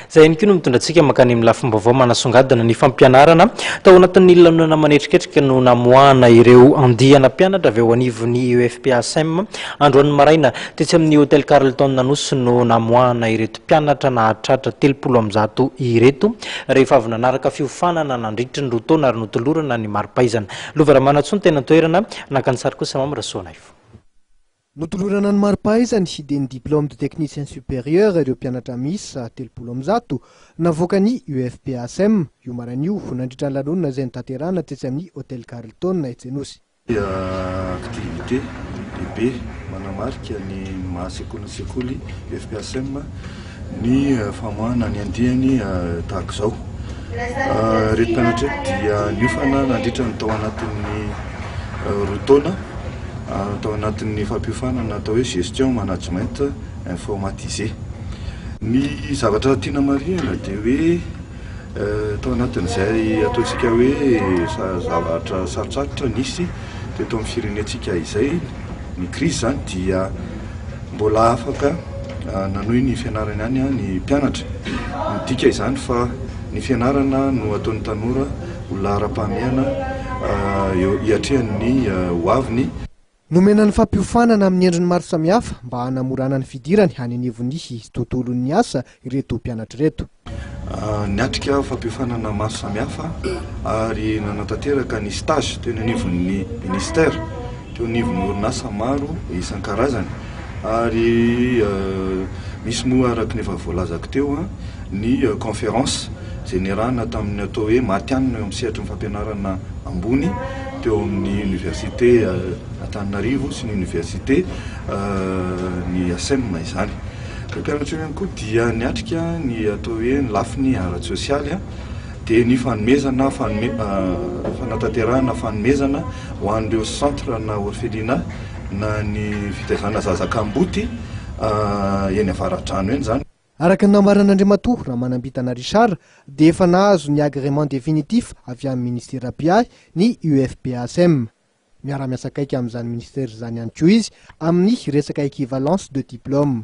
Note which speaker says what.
Speaker 1: Izay ihany koa no mitondra antsika mankany amin'ny lafim-baovao manasongadina ny fampianarana. Tao anatin'ny lanonana manetriketrika no namoahana ireo andiana mpianatra avy ao anivon'ny UFPASM. Androany maraina, tetsy amin'ny Hotel Carlton Anosy no namoahana ireto mpianatra nahatratra telopolo amby zato ireto, rehefa avy nanaraka fiofanana nandritry ny roa taona ary notolorana ny mari-pahaizana. Lova Ramanantsoa ny tena toerana, naka ny sary kosa Mamy Rasoanaivo.
Speaker 2: Notolorana ny mari-pahaizany dia ny Diplôme de Technicien Supérieur ireo mpianatra miisa telopolo amby zato navoakan'ny UFPASM, io maraina io, nandritra ny lanonana izay notanterahana tetsy amin'ny Hôtel Carlton, etsy Anosy.
Speaker 3: Activité lehibe manamarika ny maha-sekolin'ny sekoly UFPASM. Ny famoahana ny andiany tahaka izao. Ireto mpianatra ireto dia niofana nandritra ny tao anatin'ny roa taona tao anatin'ny fampiofanana atao hoe gestion management informatisé. Ny zavatra tiana marihina dia hoe. Tao anatin'izay ataontsika hoe zavatra sarotsarotra nisy teto amin'ny firenentsika izay, ny krizy izany dia mbola afaka nanohy ny fianarany ihany ny mpianatra. Midika izany fa ny fianarana no ataon'ny tanora ho laharam-pahamehana hiatrehan'ny hoaviny. Nomena ny
Speaker 2: fampiofanana amin'ny endriny maro samihafa mba hanamorana ny fidirany any anivon'ny tontolon'ny asa ireto mpianatra ireto. Niatrika
Speaker 3: fampiofanana maro samihafa ary nanatanteraka ny stage teny anivon'ny Ministère, teo anivon'ny orinasa maro isan-karazany ary nisy moa araka ny efa voalazako teo ny conférence izay niarahana tamin'ny atao hoe matihanina eo amin'ny sehatry ny fampianarana ambony teo amin'ny Université Antananarivo sy ny Université ny ACEM izany. Ireo mpianatra ireo ihany koa dia niatrika ny atao hoe ny lafiny ara-tsosialy dia ny fanomezana fanatanterahana fanomezana ho an'ireo centre na orphelinat na ny fitaizana zaza kamboty eny Avaradrano eny izany. Araka ny nambaran'Andriamatoa
Speaker 2: Ramanambitana Richard dia efa nahazo ny agrément définitif avy amin'ny Minisitera mpiahy ny UFPASM. Miara-miasa akaiky amin'izany Minisitera izany ihany koa izy amin'ny resaka équivalence de diplômes.